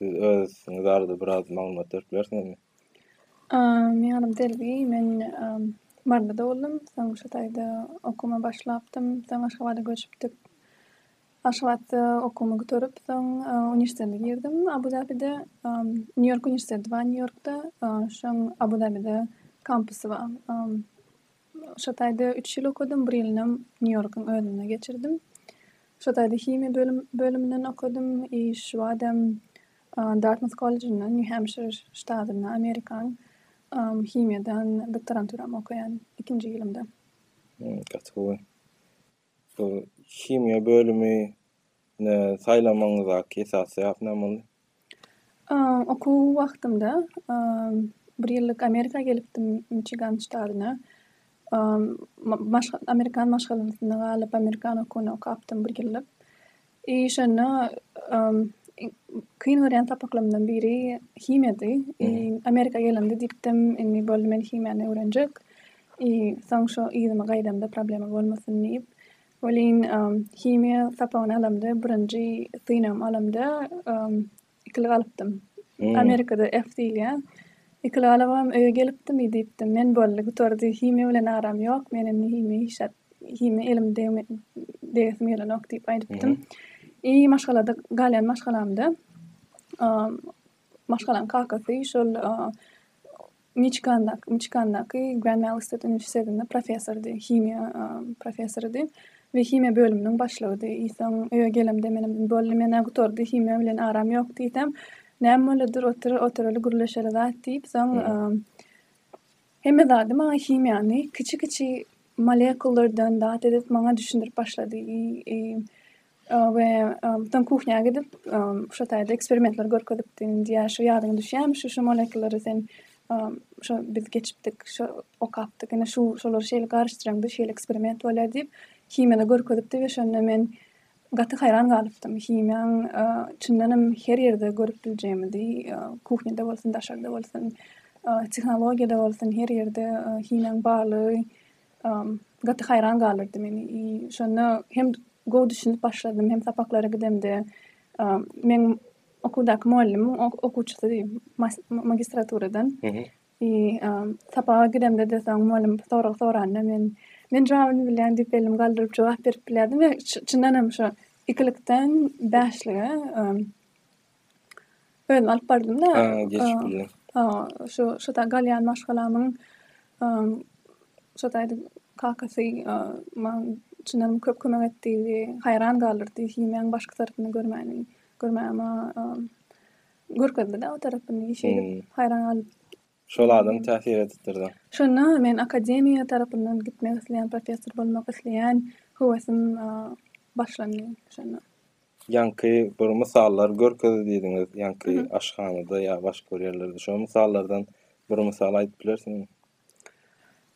Siz özüňiz barada biraz maglumat berip bilersiňizmi? Meň adym Delbi. Men Maryda doguldym. Soň şu taýda okuwyma başlapdym. Soň Aşgabada göçüpdik. Aşgabatda okuwymy gutarip, soň uniwersitete girdim Abu Dabide. Nýu-Ýork uniwersiteti bar Nýu-Ýorkda. Şoň Abu Dabide kampusy bar. Şo taýda üç ýyl okadym, bir ýylynam Nýu-Ýorkuň özünde geçirdim. Şo taýda himiýa bölüminden okadym i şu badam Dartmouth kollejinde, Nýu-Hempşir ştatynda, Amerikanyň himiýadan doktoranturamy okaýan, ikinji ýylymda. Gaty gowy. Şol himiýa bölümi ne saýlamagyňyzdaky esasy sebäp näme boldy? Okuw wagtymda bir ýyllyk Amerika gelipdim, Miçigan ştadyna. Amerikan maşgalasynda galyp, amerikan okuwyny okapdym bir ýyllyk. Eý şonda kyn görýän sapaklarymdan biri himiýady. Amerika gelende diýipdim, indi boldy men himiýany öwrenjek. Soň şu yzyma gaýdamda problema bolmasyn diýip. Welin himiýa sapagyny alamda, birinji synagym alamda Ikili galypdym. Amerikada F diýilýär. Ikili galybam, öýe gelipdim, i diýipdim, men boldy, gutardy, himiýa bilen aram ýok, men indi himiýa iş at, himiýa elim degme, degesim gelenok diýip aýdypdym. I maşgalada, galýan maşgalamda, maşgalaň kakasy şol, Miçigandaky Grand Valley State uniwersitetinde professordy, himiýa professorydy we himiýa bölüminiň başlygydy. Soň öýe gelemde menem boldy, men-ä gutardy, himiýa bilen aram ýok diýsem, näme bolýadyr, otur, oturaly, gürleşeli zat diýip, soň hemme zady maňa himiýany, kiçi-kiçi molekullardan zat edip maňa düşündirip başlady. we soň kuhnýa gidip, şo taýda eksperimentler görkezipdiň diýýär, şo ýadyňa düşýärmi, şu, şu molekulary sen, şo biz geçipdik, şo okapdyk, ine, şu, şolary şeýle garyşdyraňda şeýle eksperiment bolýar diýip, himiýada görkezipdi we şonda men gaty haýran galypdym, himiýaň çyndanam her ýerde görüp biljegimizi, kuhnýada bolsun, daşarda bolsun, tehnologiýada bolsun, her ýerde himiýaň barlygy gaty haýran galdyrdy meni. I şonda hem gowy düşünip başladym, hem sapaklara gidemde meň okuwdaky mugallymyň okuwçysy magistraturadan. I sapaga gidemde-de soň mugallym sorag soranda men Men jogabyny bilýän diýip elimi galdyryp jogap berip bilýärdim we çyndan hem şo ikilikden bäşlige Özüm alyp bardym-da. Ha, geçip bilýär. Ha, şu şu da galýan maşgalamyň şoda aýdyp kakasy maňa çyndan köp kömek etdi, haýran galdyrdy, himýaň başky tarapyny görmäni, görmäge maňa görkezdi-de o tarapyny, şeýdip haýran galyp. Şol adam täsir edipdirda. Şonda men akademiýa tarapyndan gitmek isleýän, professor bolmak isleýän höwesim başlandy şonda. Ýaňky bir mysallar görkezdi diýdiňiz, ýaňky aşhanada ýa başga bir ýerlerde. Şo mysallardan bir mysal aýdyp bilersiňizmi?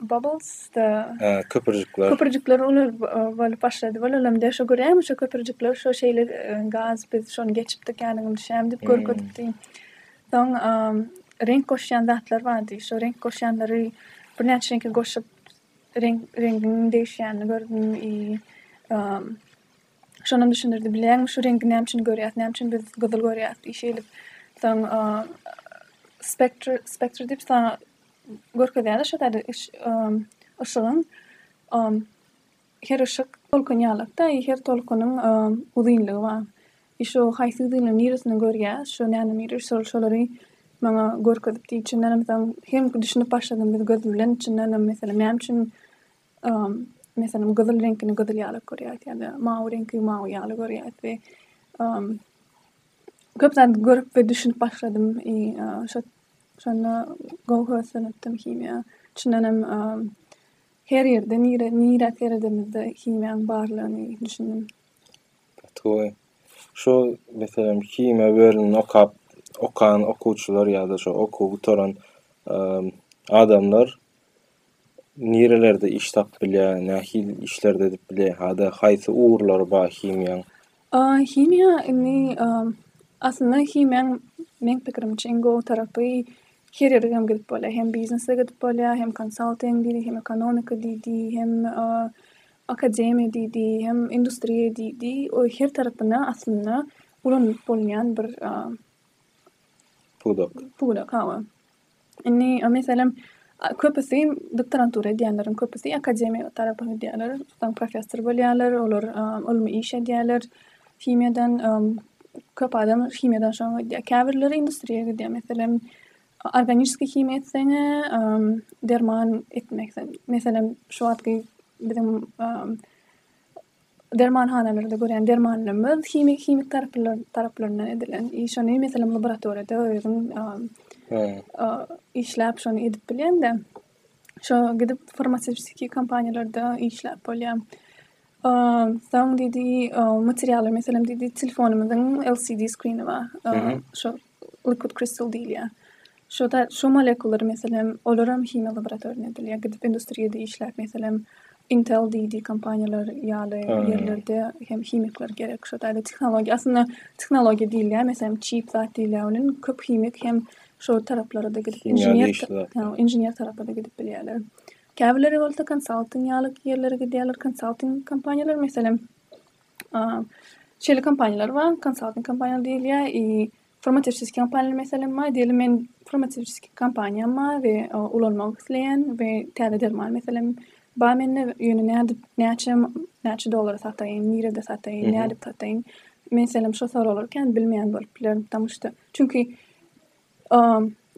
Bubbles the köpürjikler. Köpürjikler uly bolup başlady. Bolalam diýer, şo göräýem şo köpürjikler şo şeýle gaz biz şony geçipdik ýanyň düşýämi diýip görkezipdi. Soň reňk goşýan zatlar bardy. Şo reňk goşýanlary birnäçe reňki goşup reňk reňgiň degişýänini gördüm i şonam düşündirdi. Bilýäňmi şu reňki näme üçin görýäs, näme üçin biz gyzyl görýäs i şeýlip. Soň spektr spektr diýip Görkezýärler şo taýda üç yşygyň her yşyk tolkun ýalakda i her tolkunyň uzynlygy bar. I şo haýsy uzynlygyň niresinden görýäs şo näme nire şol şolary maňa görkezip diý içindenem soň hem düşünip başladym biz göz bilen içindenem meselem näme üçin meselem gyzyl reňkini gyzyl ýalak görýäs ýa-da mawy reňki mawy ýaly görýäs we köp zady görüp we düşünip başladym i şo Şonda gowy höweslenipdim himiýa. Çyndanam, her ýerde, nire, nirä seredemizde himiýaň barlygyny düşündim. Gaty gowy. Şu, meselem, himiýa bölümini okap, okan okuwçylar ýa-da şo okuwy gutaran adamlar nirelerde iş tapyp bilýär, nähili işlerde edip bilýär, hada haýsy ugurlary bar himiýaň? Himiýa indi aslynda himiýaň meň pikirimçe iň gowy tarapy her ýere hem gidip bolýar, hem biznese gidip bolýar, hem konsalting diýdi, hem ekonomika diýdi, hem akademiýa diýdi, hem industriýa diýdi, her tarapyna aslynda ulanylyp bolýan bir pudak. Indi, meselem, köpüsi, doktorantura edýänleriň köpüsi akademiýa tarapa gidýärler, soň professor bolýarlar, olar ylmy iş edýärler, himiýadan, köp adam himiýadan şoňa gidýär. Käbirleri industriýa gidýär, meselem, organiski himiýa etseň-ä, derman etmek, meselem, şu wagtky biziň dermanhanalarda görýän dermanlarymyz himik himik taraplaryndan edilen iş ony meselem laboratoriýada özüň işläp şony edip bilende şo gidip farmasewtiki kompaniýalarda işläp bolýa soň diýdi materialy meselem diýdi telefonymyzyň lcd skrini bar şo Liquid crystal diýilýär. Şo-da şo molekulary meselem olaram himiýa laboratoriýadan edilýär. Gidip industriýada işläp meselem Intel diýdi kompaniýalar ýaly ýerlerde hem himikler gerek. Şo taýda tehnologiýa aslynda tehnologiýa diýilýär. Meselem çip zat diýilýär onuň köp himik hem şo taraplara-da gidip inžener inžener tarapa-da gidip bilýärler. Käbirleri bolsa konsalting ýaly ýerlere gidýärler. Konsalting kompaniýalar meselem Şeýle kompaniýalar bar, konsalting kompaniýalar diýilýär, i farmasewtiki kompaniýalar meselem bar, diýeli men farmasewtiki kompaniýam bar we ulanmak isleýän we täze derman meselem bar mende, ýöne nädip, näçe, näçe dollara sataýyn, nirede sataýyn, nädip sataýyn, meselem şo sorag berken bilmeýän bolup bilerin, ptamuşda, çünki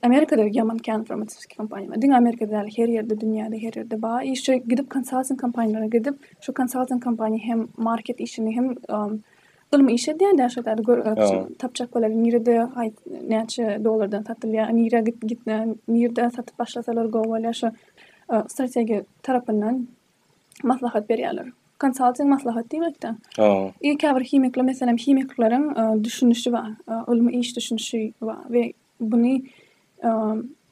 Amerikada ýaman kän farmasewtiki kompaniýa diňe Amerikada däl her ýerde dünýäde her ýerde bar işe gidip konsalting kompaniýalara gidip şu konsalting kompaniýa hem market işini hem ylmy iş edýändä şol ýerde görüp tapjak bolýar nirede näçe dollardan satylýar nirä gitmän nirde satyp başlasalar gowy bolýar şo strategiýa tarapyndan maslahat berýärler. Konsalting maslahat diýmekde. Ha. Ýa käbir himikler, meselem, himikleriň e, düşünişi bar, e, ylmy iş düşünişi bar we buny e,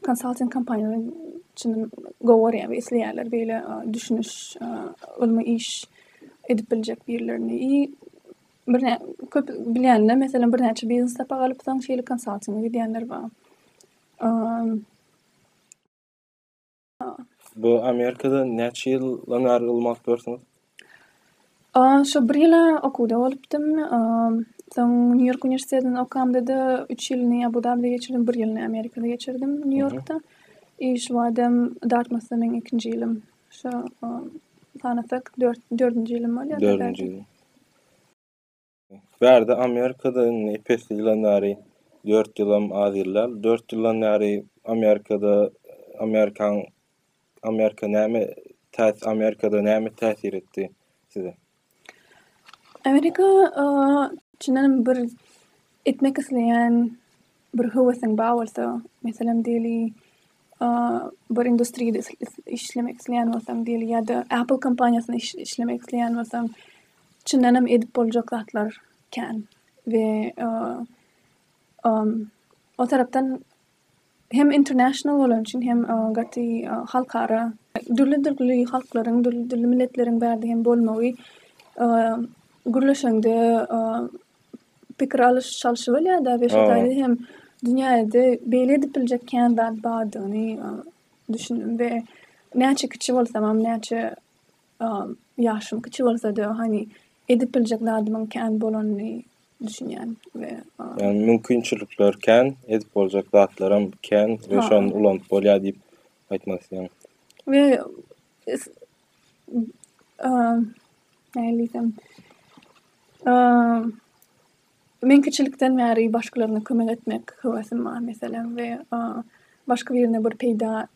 konsalting kompaniýalaryň üçin gowarýar we isleýärler beýle e, düşüniş, e, ylmy iş edip biljek birlerini. I birnä köp bilýänler, meselem, birnäçe biznes sapak alyp, soň şeýle konsaltinge gidýänler bar. E, Bu Amerikada näçe ýyldan bäri ylmy alyp ýörsüňiz? Şu bir ýyla okuwda bolupdym. Soň Nýu-Ýork uniwersitetinde okamda-da üç ýylyny Abu-Dabide geçirdim, bir ýylyny Amerikada geçirdim, Nýu-Ýorkda. I şu badam Dartmouthda meň ikinji ýylym. Şo sanasak dört, dördünji ýylym bolýar. Bärde Amerikada indi epesli ýylan bäri, dört ýylam az ýyl däl, dört ýyldan bäri Amerikada, Amerikan, Amerika näme täs, Amerikada näme täsir etdi size? Amerika, çyndanam bir etmek isleýän bir höwesiň bar bolsa, meselem diýeli, bir industriýada işlemek isleýän bolsaň diýeli ýa-da Apple kompaniýasynda işlemek isleýän bolsaň, çyndan hem edip boljak zatlar kän we o tarapdan hem international bolany üçin hem gaty halkara, dürli-dürli halklaryň, dürli-dürli milletleriň bärde hem bolmagy gürleşeňde pikir alyş çalşy bolýada we şol taýda hem dünýäde beýle edip biljek kän zat bardygyny düşündim we näçe kiçi bolsamam näçe ýaşym kiçi bolsada hani edip biljek zadymyň kän bolanyny düşünýän we ýagny mümkinçilikler kän edip boljak zatlaram kän we şony ulanyp bolýar diýip aýtmak isleýän we Nähili diýsem, meň kiçilikden bäri başgalaryna kömek etmek höwesim bar, meselem, we başga birine bir peýda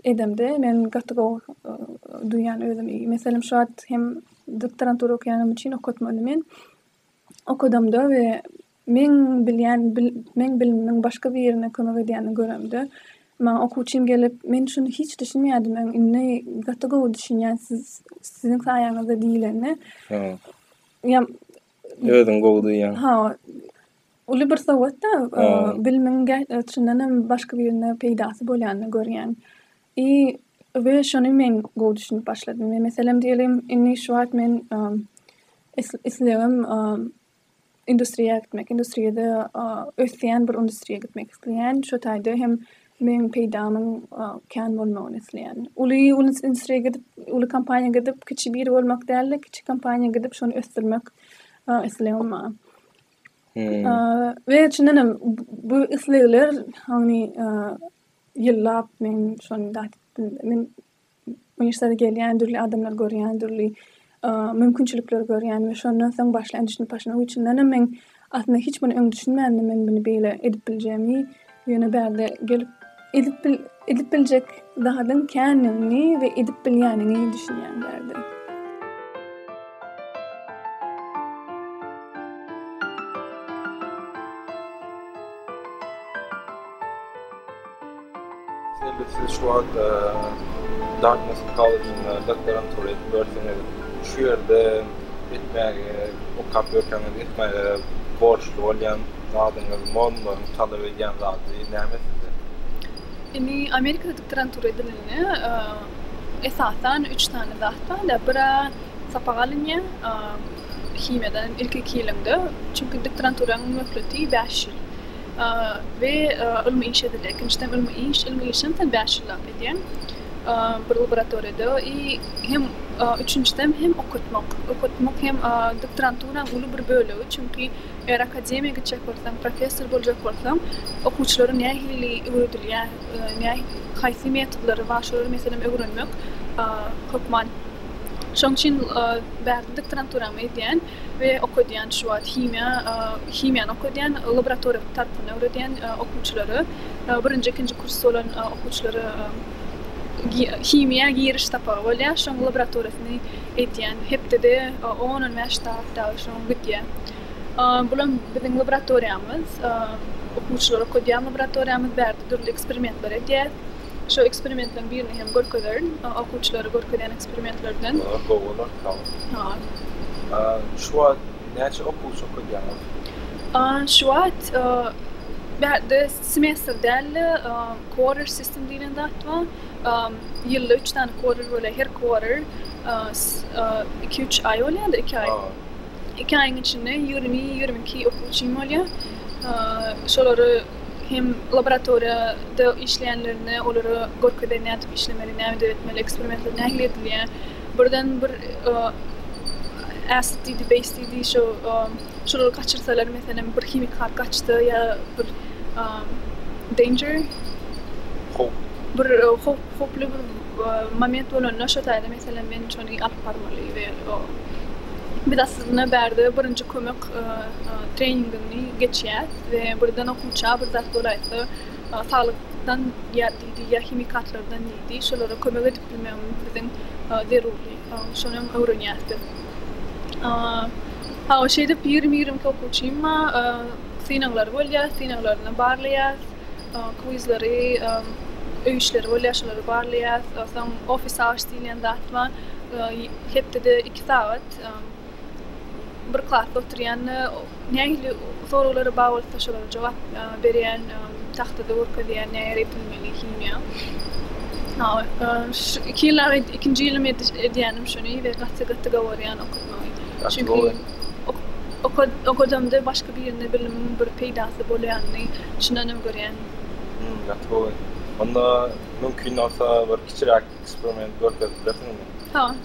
edemde, men gaty gowy duýýan özümi. Meselem, şu wagt hem doktorantura okaýanym üçin okatmaly men. Okadamda we Meň bilýän meň bilimimiň başga birine kömek edýänini göremde, maňa okuwçym gelip, Men şuny hiç düşünmeýärdim öň, indi gaty gowy düşünýän siz siziň saýaňyzda diýlende, ýa özüň gowy duýýaň. Ha, uly bir sowgat-da, bilimiň çyndan hem başga birine peýdasy bolýanyny görýäň. I we şony men gowy düşünip başladym. Meselem diýeliň, indi şu wagt men islegim industriýa gitmek, industriýada ösýän bir industriýa gitmek isleýän, şo taýda hem meň peýdamyň kän bolmagyny isleýän. Uly industriýa gidip, uly kompaniýa gidip, kiçi biri bolmak däl-de, kiçi kompaniýa gidip, şony ösdürmek islegim bar. We çyndan hem bu islegler, ýyllap men şony Uniwersitetede gelýän, dürli adamlary görýän, dürli mümkinçilikleri görýän we şondan soň başlaýan düşünip başlamak üçindenem men aslynda hiç muny öň düşünmändim men muny beýle edip biljegimi, ýöne bärde gelip edip edip biljek zadyň kändigini we edip bilýänini düşünýän bärde. Eger siz şu wagt Dartmouth kolležinde doktorantura edip ýörseňiz, şu ýerde etmäge, okap ýörseňiz etmäge borçly bolýan zadyňyz, mormlaryň talap edýän zady näme sizde? Indi Amerikada doktorantura edilende esasan üç sany zat bar-da, bir-ä sapak alynýar, himiýadan hem ilki iki ýylyňda, çünki doktoranturanyň möhleti bäş ýyl we ylmy iş edilýär. Ikinjiden ylmy iş, ylmy iş hem sen bäş ýyl zat edýäň bir laboratoriýada i hem üçünjiden hem okatmak, okatmak hem doktoranturanyň uly bir bölegi, çünki eger akademiýa gitjek bolsaň, professor boljak bolsaň, okuwçylara nähili öwredilýär, haýsy metodlary bar, şolary meselem öwrenmek hökman Şoň üçin bärde doktorant duramy edýän we okadýan şu wagt himiýa himiýany okadýan laboratoriýa tarapyndan öwredýän okuwçylara birinji ikinji kurs bolan okuwçylara himiýa giriş sapagy bolýar şoň laboratoriýasyny edýän hepdede on on bäş sagat dagy şoň gidýär bulam biziň laboratoriýamyz okuwçylar okadýan laboratoriýamyz bärde dürli eksperimentler edýär. Şu eksperimentleriň birini hem görkezerin. Okuwçylara görkezýän eksperimentlerden. Olar gowy bolar, sag bol. Salam. Şu wagt näçe okuwçy okadýaňyz? Şu wagt bärde semestr däl-de, quarter system diýlen zat bar. Ýylda üç sany quarter bolýar. Her quarter iki-üç aý bolýar-da, iki aý. Iki aýyň içinde ýigrimi, ýigrimi iki okuwçym bolýar. Şolary hem laboratoriýada işleýänlerine olara görkezer nädip işlemeli näme döretmeli eksperimenter nähili edilýär birden bir äsd diýdi beýs diýdi şo şolary gaçyrsalar meselem bir himik zat gaçsa ýa bir danger howp bir howp howply bir moment bolanda şo taýda meselem men şony alyp barmaly we biz aslynda bärde birinji kömek treningini geçýäs we birden okuwça bir zat bolaýsa saglykdan ýa diýdi ýa himikatlardan diýdi şolara kömek edip bilmegimiz biziň zerurdy şonam öwrenýäs biz hawa şeýdip ýigrimi ýigrimi iki okuwçymma synaglar bolýa synaglaryny barlaýas kwizleri öý işleri bolýa şolary barlaýas soň office hours diýilýän zat bar hepdede iki sagat. bir klasda oturýanda nähili soraglara bar bolsa şolara jogap berýän tahtada görkezýän nähili repinmeli himiýa şu iki ýyl ikinji ýylym edýänim şony we gaty gaty gowarýan okatmagy çünki okadamda başga birine bilimiň bir peýdasy bolýanyny şundanam görýän gaty gowy onda mümkin bolsa bir kiçiräk eksperiment görkezip bilersiňizmi ha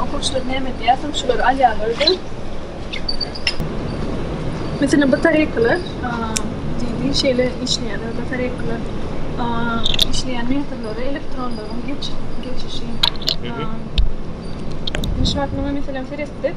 Okuwçylar näme edýärsiň? Şulary alýarlar-da. Meselem, batareýkalar, diýdi, şeýle işleýärler, batareýkalar işleýän metallara elektronlaryň geçişi. Biz wagtynda, meselem, seretdik.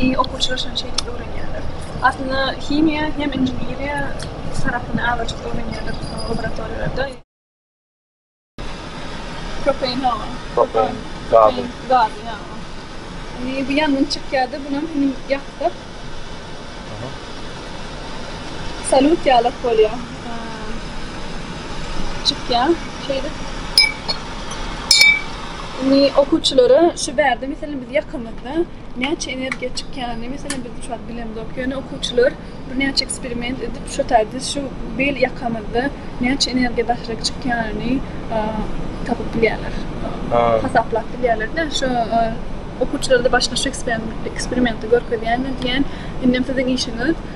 I okuwçylar şony şeýdip öwrenýärler. Aslynda himiýa hem inženeriýa tarapyny azajyk öwrenýärler laboratoriýalarda. Propein hawa. Propein gazy. Gazy ýa. Indi bu ýangyn çykýarda bunam hini ýaksak. Aha. Salut ýalak bolýa. Çykýa şeýdip. Indi okuwçylara şu bärde meselem biz ýakamyzda näçe energiýa çykýany meselem biz şu wagt bilemzok. Ýöne okuwçylar birnäçe eksperiment edip şu taýda şu bir ýakamyzda näçe energiýa daşaryk çykýanyny tapyp bilýärler. Hasaplap bilýärler-de. Şu okuwçylara-da başda şu eksperimenti görkezýän we diýýän indem siziň işiňiz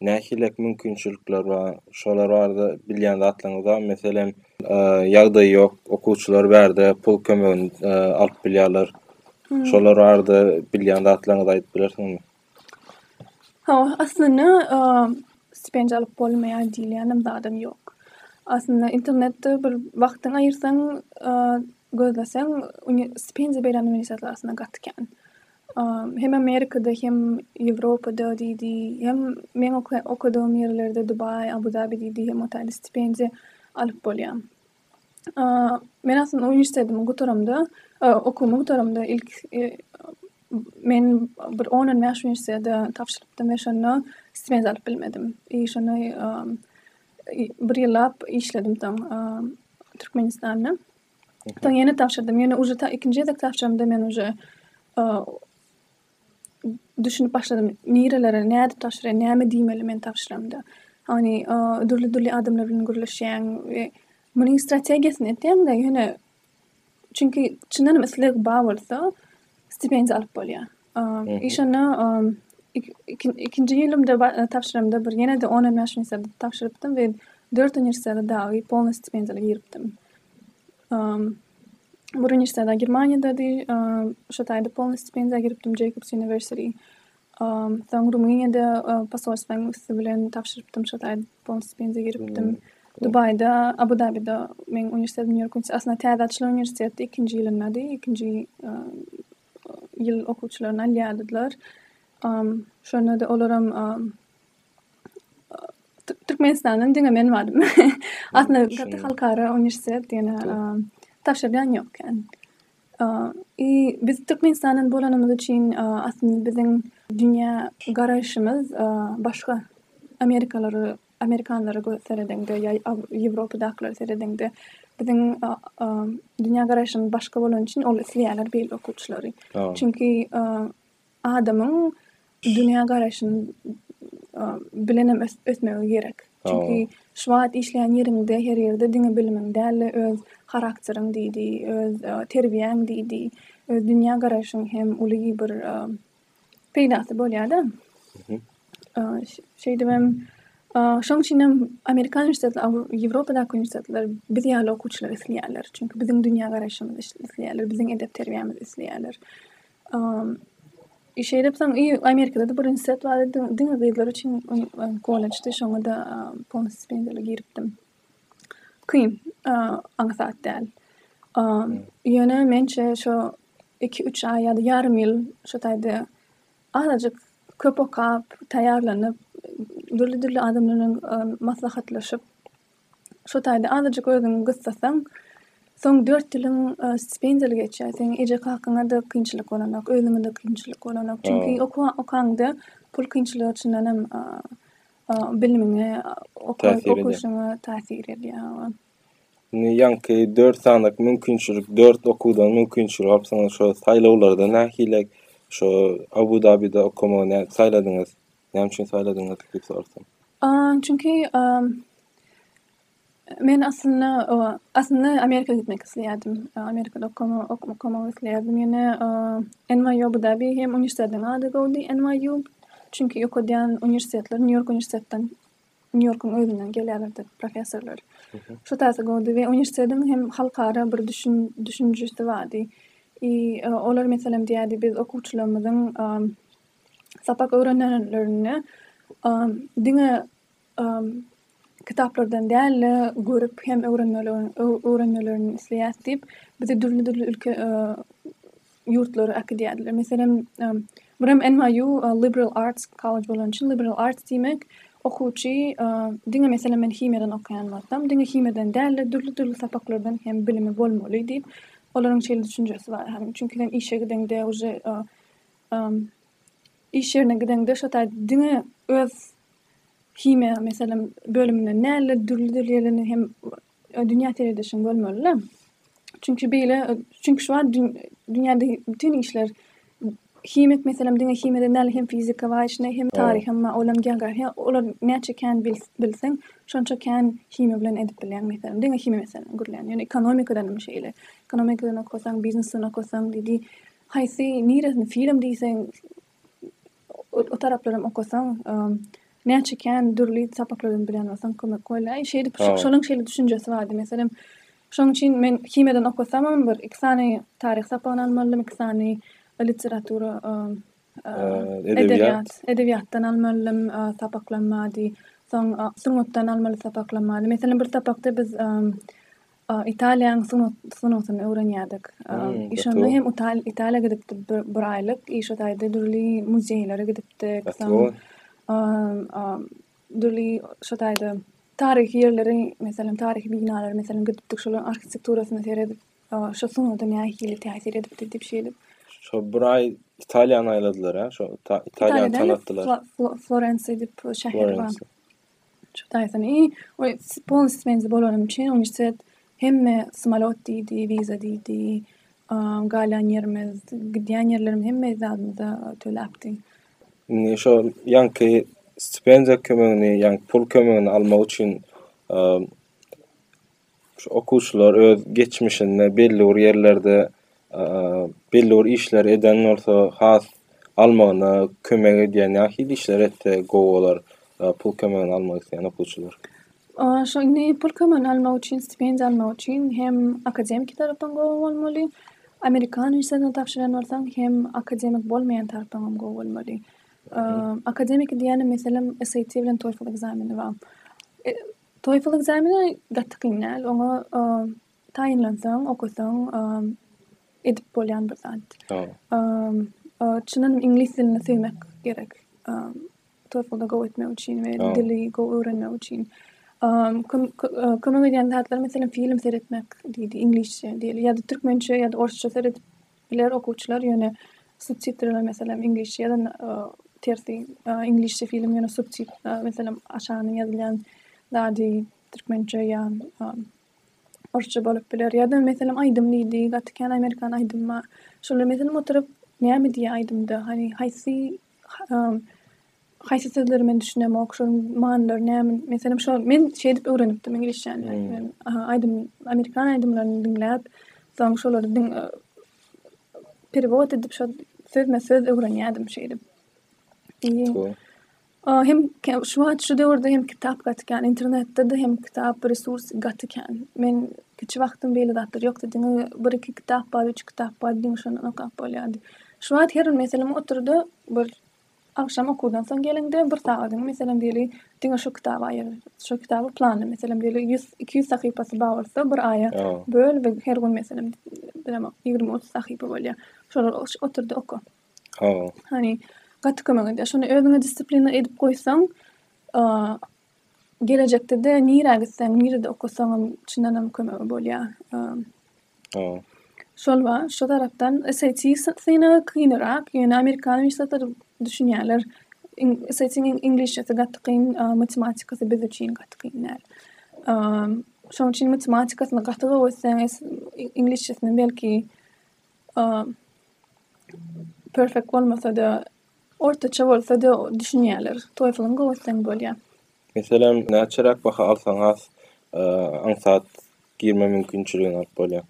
Nähilek mümkinçilikler bar? Şolar barada bilýän zatlaryňyz barmy? Meselem, ýagdaýy ýok okuwçylar bärde pul kömegini alyp bilýärler. Şolar barada bilýän zatlaryňyzy aýdyp bilersiňizmi? Hawa, aslynda stipendiýa alyp bolmaýar diýilýänem zadam ýok. Aslynda internetde bir wagtyňy aýyrsaň, gözleseň, stipendiýa berýän uniwersitetler aslynda gaty kän. Hem Amerikada hem Ýewropada diýdi, hem meň okadygym ýerlerde Dubaý, Abu Dabi diýdi, hem otelde stipendiýa alyp bolýar. Men aslynda uniwersitetimi gutaramda, okuwymy gutaramda ilk men bir on-on bäş uniwersitete tabşyrypdym we şonda stipendiýa alyp bilmedim. I şonda bir ýyllap işledim soň Türkmenistanda. Soň ýene tabşyrdym. Ýöne uje ta ikinji gezek tabşyramda men uje düşünip başladym. Nirelere, nädip tabşyrýan, näme diýmeli men tabşyramda. Ony dürli-dürli adamlar bilen gürleşýäň we munuň strategiýasyny etýäň-de, ýöne çünki çyndanam isleg bar bolsa, stipendiýa alyp bolýar. I şonda ikinji ýylymda tabşyramda bir ýene-de on hem ýaş üniwersitet tabşyrypdym we dört üniwersitet dagy polny stipendiýaly giripdim. Bir üniwersitet Germaniýadady, şo taýda polny stipendiýa giripdim Jeýkobs Üniwersiti. Soň Rumyniýada posolstwanyň üsti bilen tabşyrypdym, şo taýda polny stipendiýa giripdim. Dubaýda, Abu Dabide, meň üniwersitetim ýörgünçde, aslynda täze açylan üniwersitetdi, ikinji ýylyndady, ikinji ýyl okuwçylaryny alýardylar. Şonda-da olaram Türkmenistandan diňe men bardym. Aslynda gaty halkara uniwersitet diýene tabşyrýan ýok ekän. I biz Türkmenistandan bolanymyz üçin aslynda biziň dünýä garaýşymyz başga amerikalara Amerikanlara göz seredeňde ýa Ýewropadakylary seredeňde biziň dünýä garaýşymyz başga bolany üçin ol isleýärler beýle okuwçylary. Çünki adamyň dünýä garaýşyny bilen hem ösmegi gerek. Çünki şu wagt işleýän ýeriňde her ýerde diňe bilimiň däl öz harakteriň diýdi, öz terbiýäň diýdi, öz dünýä garaýşyň hem uly bir peýdasy bolýar-da. Şeýdibem, şoň üçinem amerikan uniwersitetleri, Ýewropadaky uniwersitetler biz ýaly okuwçylary isleýärler. Çünki biziň dünýägaraýşymyzy isleýärler, biziň edep-terbiýämizi isleýärler. Şeýdip soň i Amerikada-da bir uniwersitet bar edi, diňe gyzlar üçin kollejdi, şoňa-da polnostýu stipendiýa alyp giripdim. Kyn, aňsat däl. Ýöne mençe, şo iki-üç aý ýa-da ýarym ýyl şu taýda azajyk köp okap, taýýarlanyp, dürli-dürli adamlar bilen maslahatlaşyp, şu taýda azajyk özüňi gyssasaň, soň dört ýylyň stipendiýaly geçýär. Seň eje-kakaňa-da kynçylyk bolanok, özüňe-de kynçylyk bolanok. Çünki okanyňda pul kynçylygy çyndanam bilimiňe, okuwyňa täsir edýär. Indi ýaňky dört sanaky mümkinçilik, dört okuwdan mümkinçilik alypsyňyz. Şo saýlawlarda nähili şo Abu Dabide okamagy nä saýladyňyz? Näme üçin saýladyňyz diýip sorasam. Aaa, çünki aaa, men aslynda oba, aslynda Amerika gitmek isleýärdim. Amerikada okama okuw okamagy isleýärdim. Ýöne aaa, NYU Abu Dabi hem uniwersitetiniň ady gowudy, NYU. Çünki okadýan uniwersitetler Nýu-Ýork uniwersitetden Nýu-Ýorkuň özünden gelýärler-de professorlar. Şu taýsa gowdy we uniwersitetiň hem halkara bir düşünjisi bardy. I olar meselem diýýärdi, biz okuwçylarymyzyň sapak öwrenenlerinde diňe kitaplardan däl-de, görüp hem öwrenmelerini isleýäs diýip, bizi dürli-dürli ülke ýurtlara äkidýärdiler. Meselem, bir hem NYU Liberal Arts College bolany üçin Liberal Arts diýmek okuwçy diňe meselem men himiýadan okaýan bolsam, diňe himiýadan däl-de dürli-dürli sapaklardan hem bilimi bolmaly diýip, olaryň şeýle düşünjesi bar. Hany, çünki sen işe gideňde uje iş ýerine gideňde şo taýda diňe öz himiýa meselem bölüminden däl-de dürli-dürli ýerden hem Dünýä seredişiň bolmaly-la. Çünki beýle, çünki şu wagt dünýäde bütin işler himik, meselem, diňe himiýadan däl, hem fizika bar içinde, hem taryh hem bar, olam geografiýa, olar näçe kän bilseň, şonça kän himiýa bilen edip bilýäň, meselem, diňe himiýa meselem gürlän. Ýöne ekonomikadan hem şeýle. Ekonomikadan okasaň, biznesden okasaň, haýsy, niresini, film diýseň, O taraplaram okasaň näçe kän dürli sapaklardan bilen bolsaň kömek bolýar. Şeýdip şonuň şeýle düşünjesi bardy. Meselem şonuň üçin men himiýadan okasamam bir iki sany taryh sapagyny almalydym, iki sany literatura edebiýat edebiýatdan almalydym sapaklanmady. Soň sungatdan almaly sapaklanmady. Meselem bir sapakda biz Italiýanyň sungat sungatyny öwrenýärdik. Şonda hem Italiýa gidipdik bir aýlyk. Işe taýda dürli muzeýlere gidipdik. Dürli şo taýda taryhy ýerleri, meselem, taryhy binalara, meselem, gidipdik. Şolaryň arhitekturasyna seredip, şo sungata nähili täsir edipdir diýip şey edip. Şo bir aý Italiýany aýladylar-a? Şo Italiýany tanatdylar. Florensiýa diýip şäher bar. Çutaýsyn, iý, we polnistsi benzin bolanym üçin uniwersitet hemme smolýot diýdi, wiza diýdi, galýan ýerimiz, gidýän ýerlerimiz hemme zadymyzy töläpdi. Indi şol ýaňky stipendiýa kömegini, ýaňky pul kömegini almak üçin Şu okuwçylar öz geçmişinde belli bir ýerlerde belli bir işleri eden bolsa has almagyna kömek edýän nähili işler etse gowy bolar pul kömegini almak isleýän okuwçylar? Şu indi pul kömegini almak üçin stipendiýa almak üçin hem akademiki tarapdan gowy bolmaly amerikan işlerine tabşyrýan bolsaň hem akademik bolmaýan tarapdan hem gowy bolmaly. Akademiki diýýänim meselem SAT bilen TOEFL ekzameni bar. TOEFL ekzameni gaty kyn däl. Oňa taýynlansaň, okasaň, edip bolýan bir zat. Çyndan iňlis dilini söýmek gerek. TOEFL-da gowy etmek üçin we dili gowy öwrenmek üçin. Kömek edýän zatlar, meselem, film seretmek diýdi, iňlisçe diýeli, ýa-da türkmençe ýa-da orsça seredip Biler okuwçylar ýöne subtitrler meselem iňlisçe ýa-da tersi iňlisçe film ýöne subtit meselem aşagynda ýazylýan zady türkmençe ýa orsça bolup biler ýa-da meselem aýdym diýdi gaty kän amerikan aýdym bar şolar meselem oturyp näme diýýär aýdymda hany haýsy Haýsy sözleri men düşünemok, şonuň manylary näme? Meselem, şo men şeýdip öwrenipdim iňlisçäni. Hmm. Men aýdym, amerikan aýdymlaryny diňläp, soň şolary diň e, perewod edip, şo sözme söz öwrenýärdim şeýdip. O hem şu wagt şu döwürde hem kitap gatýan, internetde de hem kitap resurs gatýan. Men kiçi wagtym beýle zatlar ýokdy. Diňe bir iki kitap bar, üç kitap bar, diňe şondan okap bolýardy. Şu wagt her meselem oturdy, bir Agşam okuwdan soň geliňde, bir sagadyňy, meselem, diýeli, diňe şu kitaba aýyr. Şu kitaby planla, meselem, diýeli, ýüz, iki ýüz sahypasy bar bolsa, bir aýa böl we her gün, meselem, bilemok, ýigrimi, otuz sahypa bolýar. Şolary otur-da oka. Hany, gaty kömek edýär. Şuny özüňe disiplina edip goýsaň, Gelejekde-de nirä gitseň, nirede okasaňam çyndanam kömegi bolýar. Eee. Şol bar. Şu tarapdan SAT synagy kynyrak, ýöne amerikan uniwersitetleri düşünýärler. SAT-iň iňlisçesi gaty kyn, matematikasy biz üçin gaty kyn däl. Eee. Şonuň üçin matematikasyny gaty gowy etseň, iňlisçesini belki eee perfekt bolmasa-da, Ortaça bolsady düşünýäler. Toeflň gowysyn bolýa. Meselem näçeräk baha alsaň has aňsat girme mümkinçiligini alyp bolýa.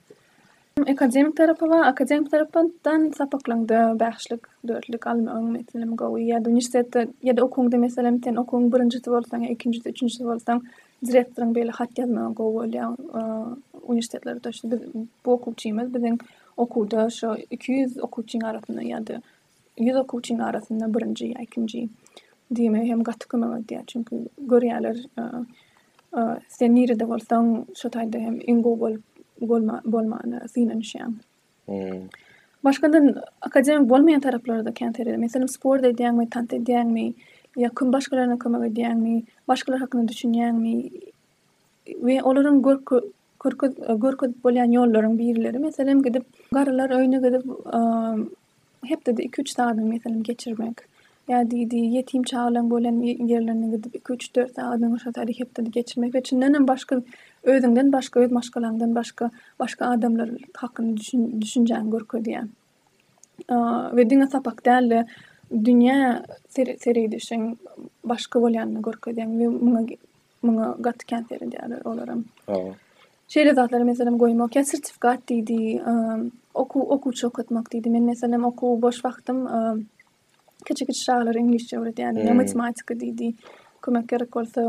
Akademik tarapy bar, akademik tarapdan sapaklaňda bäşlik, dörtlük almagyň meselem gowy ýa-da uniwersitetde ýa-da okuwyňda meselem sen okuwyň birinjisi bolsaň ýa ikinjisi, üçünjisi bolsaň direktoryň beýle hat ýazmagy gowy bolýa. Uniwersitetler bu okuwçymyz biziň okuwda şu iki ýüz okuwçyň arasynda ýa-da ýüz okuwçynyň arasynda birinji ýa ikinji diýmegi hem gaty kömek edýär. Çünki görýärler sen nirede bolsaň, şo taýda hem iň gowy bolup bolmana synanyşýaň. Hmm. Başgadan akademik bolmaýan taraplary-da kän seredýär. Meselem, sport edýäňmi, tans edýäňmi, ýa kim başgalaryna kömek edýäňmi, başgalar hakynda düşünýäňmi we olaryň Görkezip bolýan ýollaryň birleri, meselem, gidip, garrylar öýüne gidip, hepdede iki-üç sagadyňy, meselem, geçirmek. Ýa diýdi, ýetim çagalaryň bolan ýerlerine gidip, iki-üç, dört sagadyňy şo taýda hepdede geçirmek we çyndan hem başga, özüňden başga, öz maşgalaňdan başga, başga adamlar hakynda düşünjäňi görkezýär. We diňe sapak däl-de, dünýä seredişiň başga bolýanyny görkezýär we muňa Muňa gaty kän seredýärler olaram. Hawa. Şeýle zatlary meselem goýmak, ýa sertifikat diýdi, okuw okuwçy okatmak diýdi. Men meselem okuw boş wagtym kiçi-kiçi çagalara iňlisçe öwredýärdim. Ýa matematika diýdi. Kömek gerek bolsa,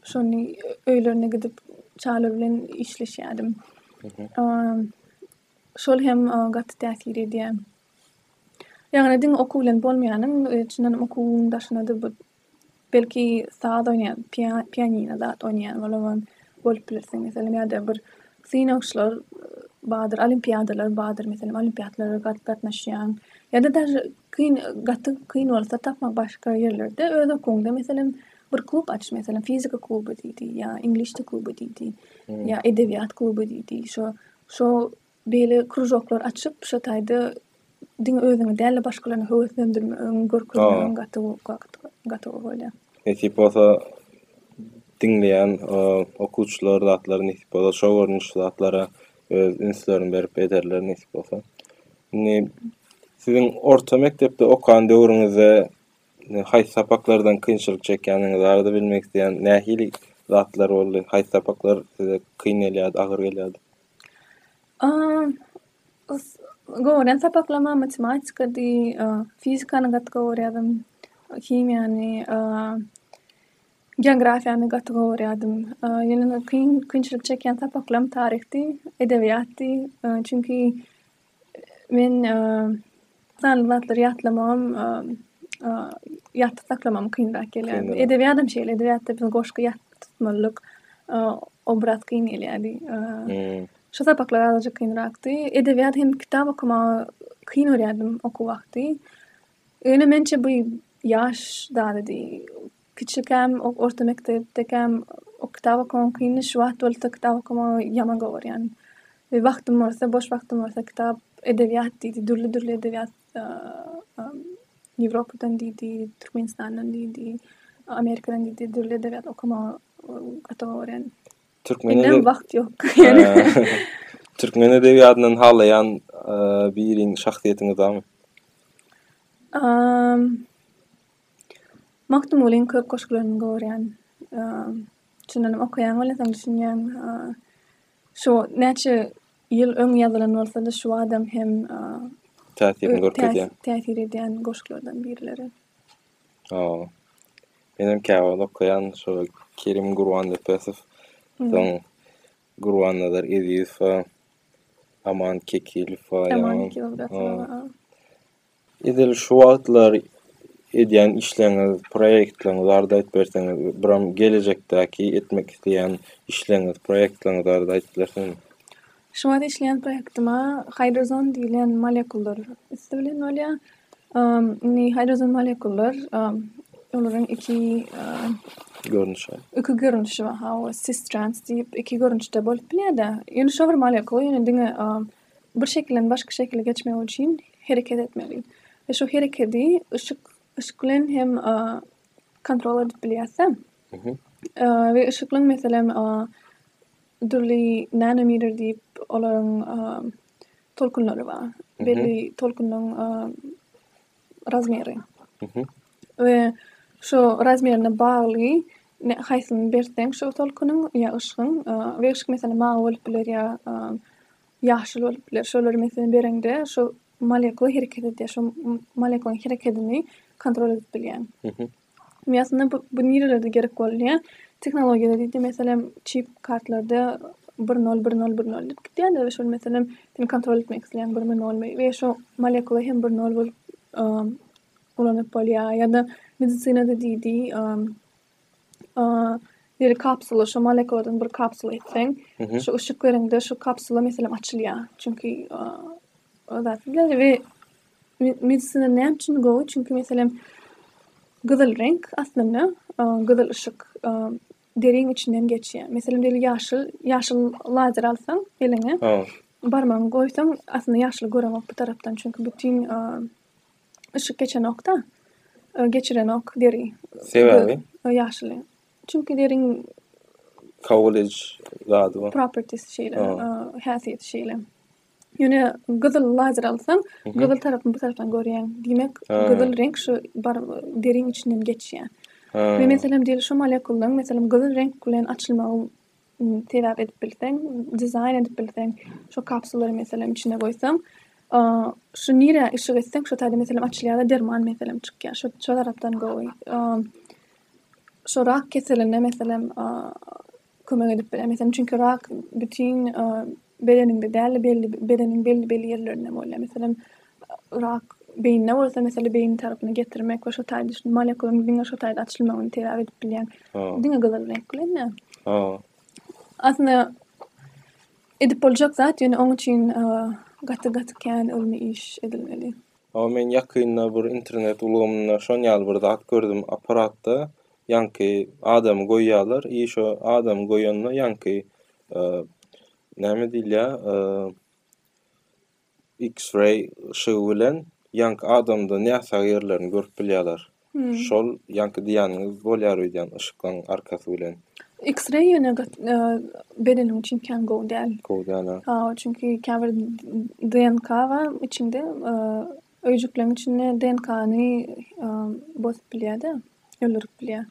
şony öýlerine gidip çagalar bilen işleşýärdim. Şol hem gaty täsir edýär. Ýagny diňe okuw bilen bolmaýanyň, çyndanam okuwyň daşynada bir Belki saz oýnaýan, pianino zat oýnaýan bolan bolup bilirsiň. Meselem, ýa-da bir synagçylar bardyr, olimpiadalar bardyr, meselem, olimpiadalara gatnaşýan. Ýa-da daža kyn, gaty kyn bolsa tapmak başga ýerlerde, öz okuwyňda, meselem, bir klub aç, meselem, fizika kluby diýdi, ýa iňlis dil kluby diýdi, ýa edebiýat kluby diýdi. Şo, şo Beýle kružoklar açyp, şo taýda diňe özüňi däl-de başgalaryny höweslendirmegiň, görkezmegiň gaty gaty gowy bolýar. Nesip bolsa diňleýän okuwçylar zatlary nesip bolsa şo görnüşli zatlara öz ünslerini berip ederler nesip bolsa. Indi siziň orta mekdepde okan döwrüňizde haýsy sapaklardan kynçylyk çekýäniňizi barada bilmek isleýän, nähili zatlar boldy? Haýsy sapaklar size kyn gelýärdi, agyr gelýärdi? Gören sapaklarymam matematikady, fizikany gaty gowy görýärdim, himiýany, geografiýany gaty gowy görýärdim. Ýöne kyn, kynçylyk çekýän sapaklarym taryhdy, edebiýatdy. Çünki Men sanly zatlary ýatlamagym, ýatda saklamagym kynrak gelýär. Edebiýadam şeýle, edebiýatda biziň goşgy ýatda tutmalydyk, obraz kyn gelýärdi. Şu sapaklar azajyk kynrakdy. Edebiýat hem kitap okamagy kyn görýärdim okuw wagty. Ýöne mençe bu ýaş zadydy. Kiçikäm ok orta mekdepdekäm ok kitap okamak kyndy şu wagt bolsa kitap okamagy ýaman gowarýan. We wagtym bolsa boş wagtym bolsa kitap edebiýat diýdi dürli dürli edebiýat Ýewropadan diýdi Türkmenistandan diýdi Amerikadan diýdi dürli edebiýat okamagy gaty gowarýan. Türkmen edeb wagt ýok. Türkmen edebiýatyndan halaýan biriň şahsyýetiňiz barmy? Magtymgulyň köp goşgularyny gorýän. Çyndanam okaýaň welin soň düşünýäň. Şu näçe ýyl öň ýazylan bolsa-da şu badam hem täsirini görkezýär. Täsir edýän goşgularydan birileri. Hawa. Men hem käwagt okaýan şu Kerim Gurbannepesow, soň Gurbannazar Ezizowa, Aman Kekilowa. Aman Kekilow. Edil şu wagtlar edýän işleriňiz, proýektleriňiz barada aýdyp berseňiz, buram gelejekdäki etmek isleýän işleriňiz, proýektleriňiz barada aýdyp berseňiz. Şu wagt işleýän proýektime hidrozon diýlen molekullar üsti bilen bolýar. Indi hidrozon molekullar olaryň iki görnüşi, iki görnüşi bar, hawa, cis-trans diýip iki görnüşde bolup bilýär-de. Ýöne şo bir molekul, ýöne diňe Bir şekilden başga şekile geçmek üçin hereket etmeli. Ve şu hereketi ışık, ışık bilen hem a, kontrol edip bilýärse, a, ve ışık bilen meselem a, dürli nanometer diýip olaryň a, tolkunlary bar. Belli tolkunyň a, razmeri. We şu razmerine bagly haýsyny berseň şu tolkunyň ýa yşgyň we yşk meselem mawy bolup biler ýa ýaşyl bolup biler. Şolary meselem bereňde şu molekula hereket edýär. Şu molekulaň herekedini kontrol edip bilýäň. Ýa aslynda bu, bu nirelerde gerek bolýar? Tehnologiýada diýdi, meselem, çip kartlarda bir nol, bir nol, bir nol diýip gitýärler we şol meselem, seni kontrol etmek isleýän birimi, nolmy we şo molekula hem bir nol bolup ulanyp bolýar. Ýa-da medisinada diýdi, deri kapsula, şo molekuladan bir kapsula etseň, şo yşyk bereňde şo kapsula meselem açylýar. Çünki, we Medisina näme üçin gowy? Çünki meselem gyzyl reňk aslynda gyzyl yşyk deriň içinden geçýär. Meselem diýeli ýaşyl, ýaşyl lazer alsaň eliňe, barmagyňy goýsaň aslynda ýaşyly göremok bu tarapdan. Çünki bütin yşyk geçenokda, geçirenok deri. Sebäbi? Ýaşyly. Çünki deriň kabul ediş zady bar. Properties şeýle, häsiýeti şeýle. Ýöne gyzyl lazer alsaň, gyzyl tarapyny bu tarapdan görýäň. Diýmek, gyzyl reňk şu bar deriň içinden geçýär. We meselem diýeli şu molekulaň meselem gyzyl reňk bilen açylmagy sebäp edip bilseň, dizaýn edip bilseň, şu kapsulary meselem içine goýsaň, şu nirä yşyk etseň şo taýda meselem açylýar-da derman meselem çykýar. Şo şo tarapdan gowy. Şo rak keseline meselem kömek edip biler. Meselem, çünki rak bütin e, bedeninde däl belli bedeniň belli belli ýerlerinde bolýar. Meselem, rak beýinde bolsa, meselem, beýin tarapyny getirmek we şo taýda şu molekulaň diňe şo taýda açylmagyny terap edip bilýär. Diňe gyzyl reňk bilen. Ha. Aslynda edip boljak zat, ýöne oň üçin e, gaty gaty kän ylmy iş edilmeli. Ha, men ýakynda bir internet ulgamynda şon ýaly bir zat gördüm. Apparatda Ýaňky adamy goýýarlar i şo adamy goýanda ýaňky näme diýilýär x-ray yşygy bilen ýaňky adamda näsag ýerlerini görüp bilýärler. Şol ýaňky diýýäniňiz bolýar öýdýän yşyklaň arkasy bilen. X-ray ýöne bedeniň üçin kän gowy däl. Gowy däl a. Hawa, çünki käbir DNK bar içinde öýjükleň içinde DNK-ny bozup bilýär-de. öldürip bilýär.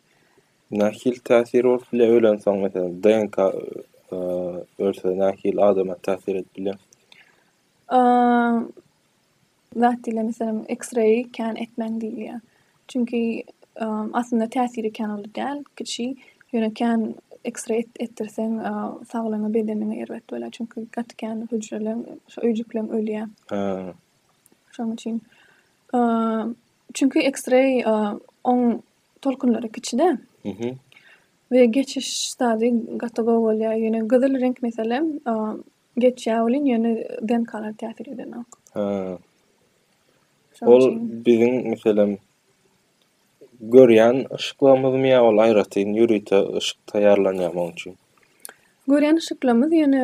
Nähili täsir bolup bilýär ölensoň meselem DNK ölse nähili adama täsir edip bilýär? Zat ile meselem X-ray kän etmäň diýilýär. Çünki aslynda täsiri kän uly däl, kiçi. Ýöne kän X-ray etdirseň saglygyňa bedeniňe erbet bolýar. Çünki gaty kän hüjreler, öýjükleň ölýär. Şoň üçin Çünki X-ray oň tolkunlary kiçide. Mhm. We geçiş stady gaty gowy bolýar. Ýöne gyzyl reňk meselem geçýär welin ýöne DNK-lar täsir edenok. Ha. Ol biziň meselem görýän yşyklarymyzmy ýa ol aýratyn ýörite yşyk taýýarlanýarmy oň üçin? Görýän yşyklarymyz ýöne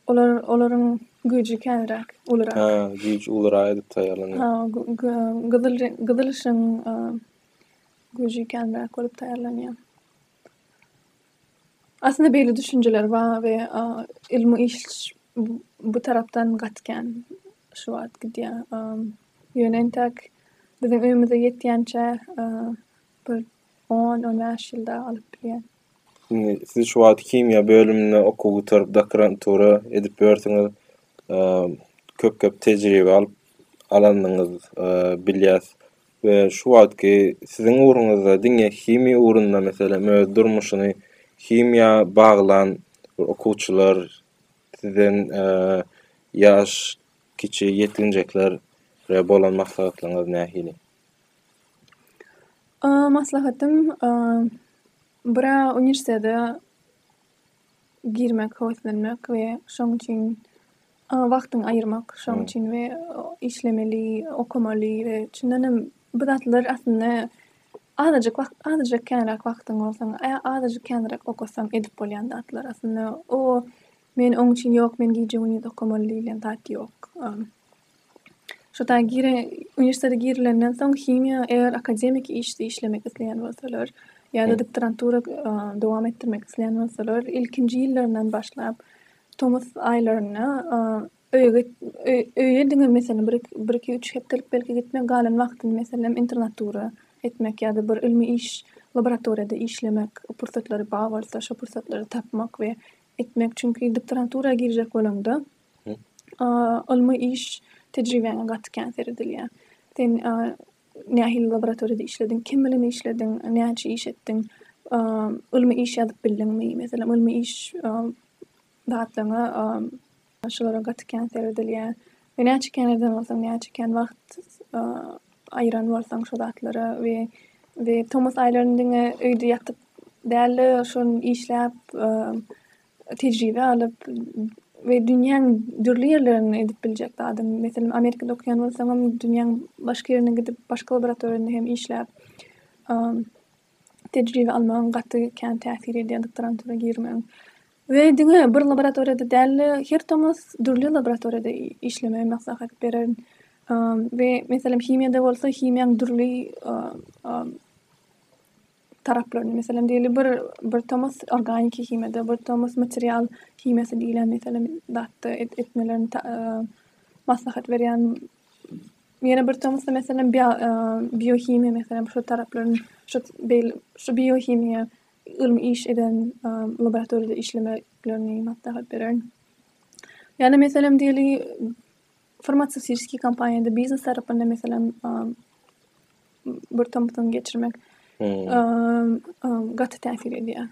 Olar olaryň güýji känräk, ulurak. Hä, güýji ulurak edip taýýarlanýar. Ha, gyzyl gyzyl işiň güýji känräk bolup taýýarlanýar. Aslynda beýle düşünjeler bar we ylmy iş bu tarapdan gaty kän şu wagt gidýär. Ýöne entek biziň öýümize ýetýänçä bir On, on bäş ýyl dagy alyp bilýär. Indi siz şu wagt himiýa bölüminde okuw gutaryp, doktorantura edip ýörsiňiz. Köp-köp tejribe alyp alandygyňyz bilýäs. We şu wagtky siziň ugruňyzda diňe himiýa ugrunda meselem öz durmuşyny himiýa baglan okuwçylar sizden ýaş kiçi ýetginjekler bolan maslahatlaryňyz nähili? Maslahatyň biri uniwersitete girmek, höweslenmek we şoň üçin wagtyňy aýyrmak, şoň üçin we işlemeli, okamaly we şundan hem bu zatlar aslynda azajyk wagt, azajyk känräk wagtyň bolsa, azajyk känräk okasaň edip bolýan zatlar. Aslynda o men oň üçin ýok, men gije-gündiz okamaly diýlen zat ýok. Şo taýy gire, uniwersitete girilenden soň himiýa eger akademiki işde işlemek isleýän bolsalar ýa-da doktorantura dowam etdirmek isleýän bolsalar, ilkinji ýyllaryndan başlap tomus aýlarynda öýe git, öýe diňe meselem bir, bir iki, üç hepdelik belki gitmek, galan wagtyny meselem internatura etmek ýa-da bir ylmy iş, laboratoriýada işlemek pursatlary bar bolsa şo pursatlary tapmak we etmek. Çünki doktorantura girjek bolaňda ylmy iş tejribäňe gaty kän seredilýär. Sen nähili laboratoriýada işlediň, kim bilen işlediň, näçe iş etdiň, ylmy iş ýazyp bildiňmi, meselem, ylmy iş zatlaryňa şulara gaty kän seredilýär. We näçe kän eden bolsaň, näçe kän wagt aýyran bolsaň şo zatlara we we tomus aýlaryny diňe öýde ýatyp däl-de, şony işläp, tejribe alyp we dünýäň dürli ýerlerinde edip biljek zadyň. Meselem, Amerikada okaýan bolsaňam, dünýäň başga ýerine gidip, başga laboratoriýada hem işläp, tejribe almagyň gaty kän täsir edýär doktorantura girmegiň. We diňe bir laboratoriýada däl-de, her tomus dürli laboratoriýada işlemegi maslahat bererin. We, meselem, himiýada bolsa, himiýaň dürli taraplaryny, meselem, diýeli bir, bir tomus organiki himiýada, bir tomus material himiýasy diýlen, meselem, zatda etmelerini maslahat berýän, ýene bir tomusda, meselem, biohimiýa, meselem, şol taraplaryň, şo beýle, şo biohimiýa ylmy iş eden laboratoriýada işlemeklerini maslahat bererin. Ýa-da, meselem, diýeli, farmasewtiki kompaniýada biznes tarapynda meselem bir tomsuny geçirmek gaty täsir edýär.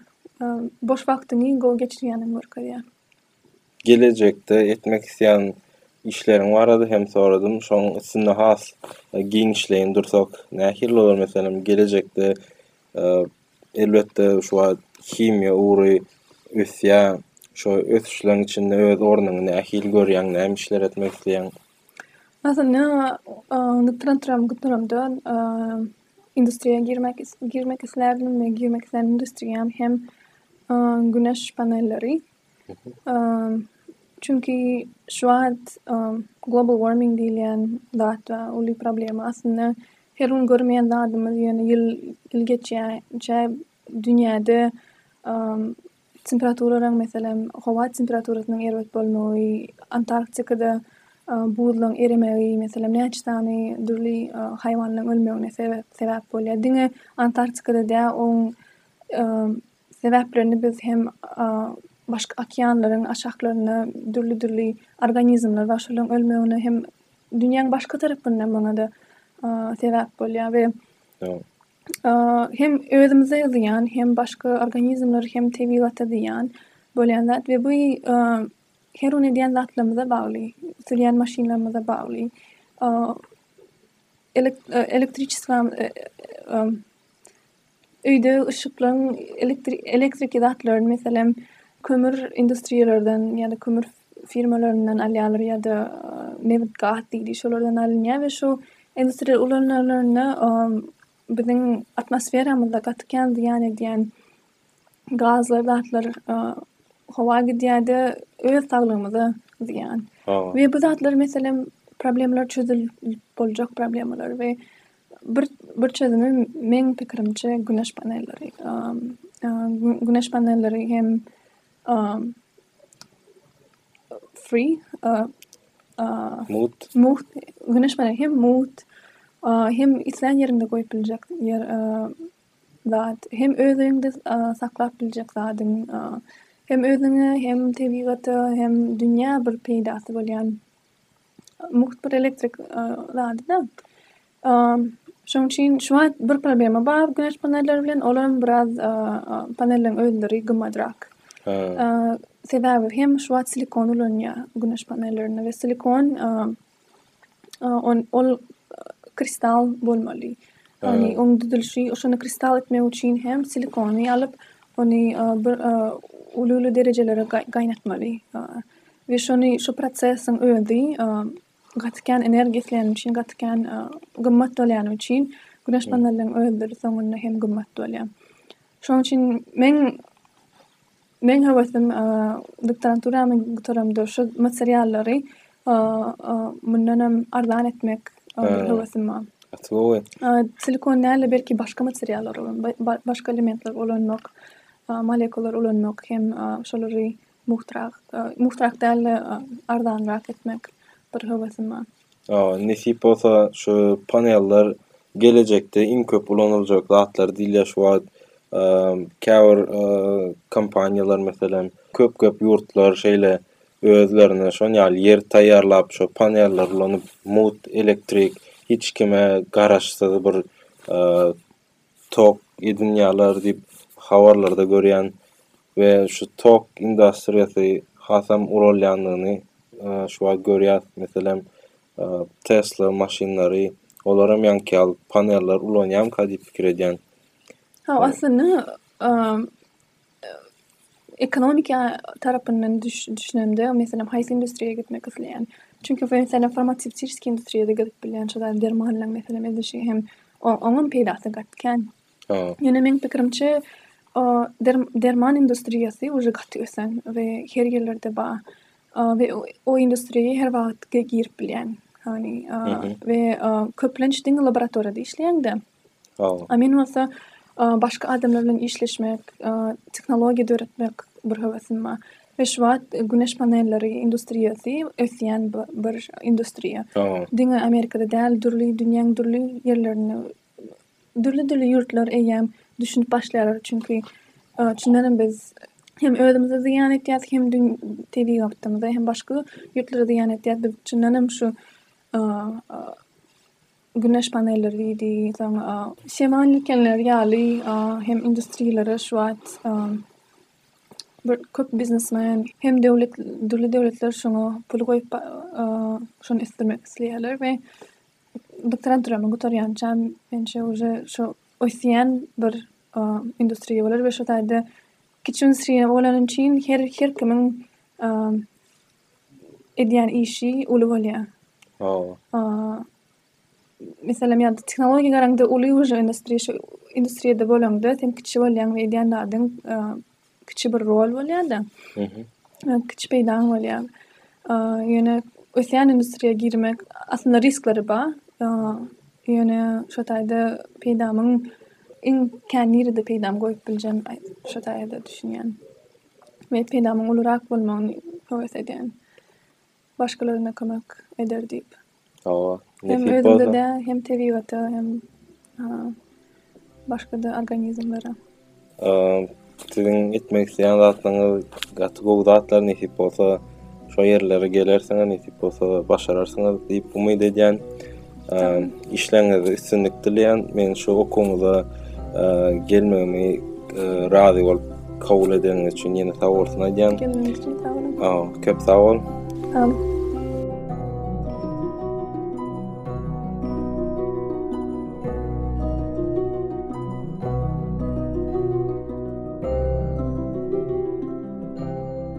Boş wagtyňy gowy geçirýäniňi görkezýär. Gelejekde etmek isleýän işleriň barada hem soradym. Şoň üstünde has giňişleýin dursak, nähili bolar meselem gelejekde Elbetde şu wagt himiýa ugry ösýär. Şo ösüşleriň içinde öz ornuňy nähili görýäň, näme işler etmek isleýäň? Aslynda doktoranturam gutaramda industriýa girmek girmek islärdim we girmek islän industriýam hem güneş panelleri. Çünki şu wagt global warming diýilýän zat bar, uly problema. Aslynda her gün görmeýän zadymyz, ýöne ýyl geçýänçä dünýäde temperaturalaryň, meselem, howa temperaturasynyň erbet bolmagy, Antarktikada buzlaryň eremegi, meselem, näçe sany dürli haýwanlaryň ölmegine sebäp bolýar. Diňe Antarktikada däl, onuň sebäplerini biz hem başga okeanlaryň aşaklarynda dürli-dürli organizmler bar. Şolaryň ölmegine hem dünýäň başga tarapynda muňa-da sebäp bolýar we hem özümize zyýan, hem başga organizmlere, hem tebigata zyýan bolýan zat we bu her gün edýän zatlarymyza bagly, sürýän maşynlarymyza bagly. Öýde yşyklaň elektriki zatlaryny meselem kömür industriýalardan ýa-da kömür firmalaryndan alýarlar ýa-da nebit gaz diýdi şolardan alynýar we şu industriýa ulanylanda biziň atmosferamyzda gaty kän zyýan edýän gazlar zatlar howa gidýärde öz saglygymyza zyýan we bu zatlar meselem problemler çözülip boljak problemalar we Bir çözümi meň pikirimçe güneş panelleri. Güneş panelleri hem free mugt mugt güneş paneli hem mugt hem islän ýeriňde goýup biljek zat hem öz öýüňde saklap biljek zadyň hem özüňe hem tebigata hem dünýä bir peýdasy bolýan Mugt bir elektrik zady-da. Şonuň üçin şu wagt bir problema bar güneş panelleri bilen, ol hem biraz panelleriň özleri gymmadrak. Sebäbi hem şu wagt silikon ulanýar güneş panellerinde we silikon ol kristal bolmaly. Ýagny onuň düzülişi, şony kristal etmek üçin hem silikony alyp, ony bir uly-uly derejelere gaýnatmaly. We şony şu prosesiň özi gaty kän energiýa isleýäni üçin gaty kän gymmat bolýany üçin güneş panelleriň özleri soňunda hem gymmat bolýar. Şonuň üçin meň meň höwesim doktoranturamy gutaramda şu materiallary mundan hem arzan etmek höwesim bar. Gaty gowy. Silikon däl-de belki başga materiallar, başga elementler ulanmak, molekular ulanmak hem şolary Muhtarak, muhtarak dälde arzanrak etmek bir höwesim bar. Nesip bolsa şu panellar gelejekde iň köp ulanyljak zatlar diýilýär şu wagt. Käbir kompaniýalar meselem köp köp ýurtlar şeýle özlerine şon ýaly ýer taýýarlap şu panelleri ulanyp mut elektrik hiç kime garaşsyz bir tok edinýärler diýip habarlarda görýän we şu tok industriýasy hasam uralýandygyny şu wagt görýär. Meselem, Tesla maşynlary, olar hem ýaňky ýaly paneller ulanýarmyka diýip pikir edýän. Hawa, aslynda, Ekonomiki tarapyndan düşünemde, meselem, haýsy industriýa gitmek isleýän? Çünki meselem farmasewtiki industriýada gezip bilýän şu zady dermanlaryň meselem edilişi hem oňam peýdasy gaty kän. Ýöne meň pikirimçe derman industriýasy uje gaty ösen we her ýerlerde bar we o industriýa her wagt girip bilýän we köplenç diňe laboratoriýada işleýäňde A men bolsa başga adamlar bilen işleşmek, tehnologiýa döretmek bir höwesim bar. We şu wagt güneş panelleri industriýasy ösýän bir industriýa. Diňe Amerikada däl, dürli dünýäň dürli ýerlerinde dürli-dürli ýurtlar eýýäm düşünip başlaýarlar. Çünki çyndan hem biz hem özümize zyýan etýäs, hem tebigatymyza, hem başga ýurtlara zyýan etýäs. Biz çyndan hem şu güneş panelleri diýdi, soň şemal ýelkenleri ýaly hem industriýalara şu wagt köp biznesmen hem döwlet, dürli döwletler şoňa pul goýup şony ösdürmek isleýärler we bitiren türemi gutarýança menimçe uje şu ösýän bir industriýa bolar we şu taýda kiçi industriýa bolany üçin her kimiň edýän işi uly bolýar. Hawa. Meselem, ýa-da tehnologiýa garaňda uly uje industriýa şu industriýada bolaňda sen kiçi bolýaň we edýän zadyň kiçi bir rol bolýar-da. Kiçi peýdaň bolýar. Ýöne ösýän industriýa girmek aslynda risklary bar. Ýöne şu taýda peýdamyň iň kän nirede peýdamy görüp biljem şo taýda düşünýän. we peýdamyň ulurak bolmagyny höwes edýän. Başgalarynda kömek eder diýip. Hawa. Hem özüňde-de, hem tebigata, hem başga-da organizmlere. Siziň etmek isleýän zatlaryňyz gaty gowy zatlar nesip bolsa. Şo ýerlere gelersiňiz nesip bolsa başararsyňyz diýip umyt edýän. Işleňizde üstünlik dileýän. Men şu okuwyňyza gelmegimi razy bolup kabul edeniňiz üçin ýene sag bolsun aýdýan. Geleniňiz üçin sag boluň. Köp sag bol. Sag bol.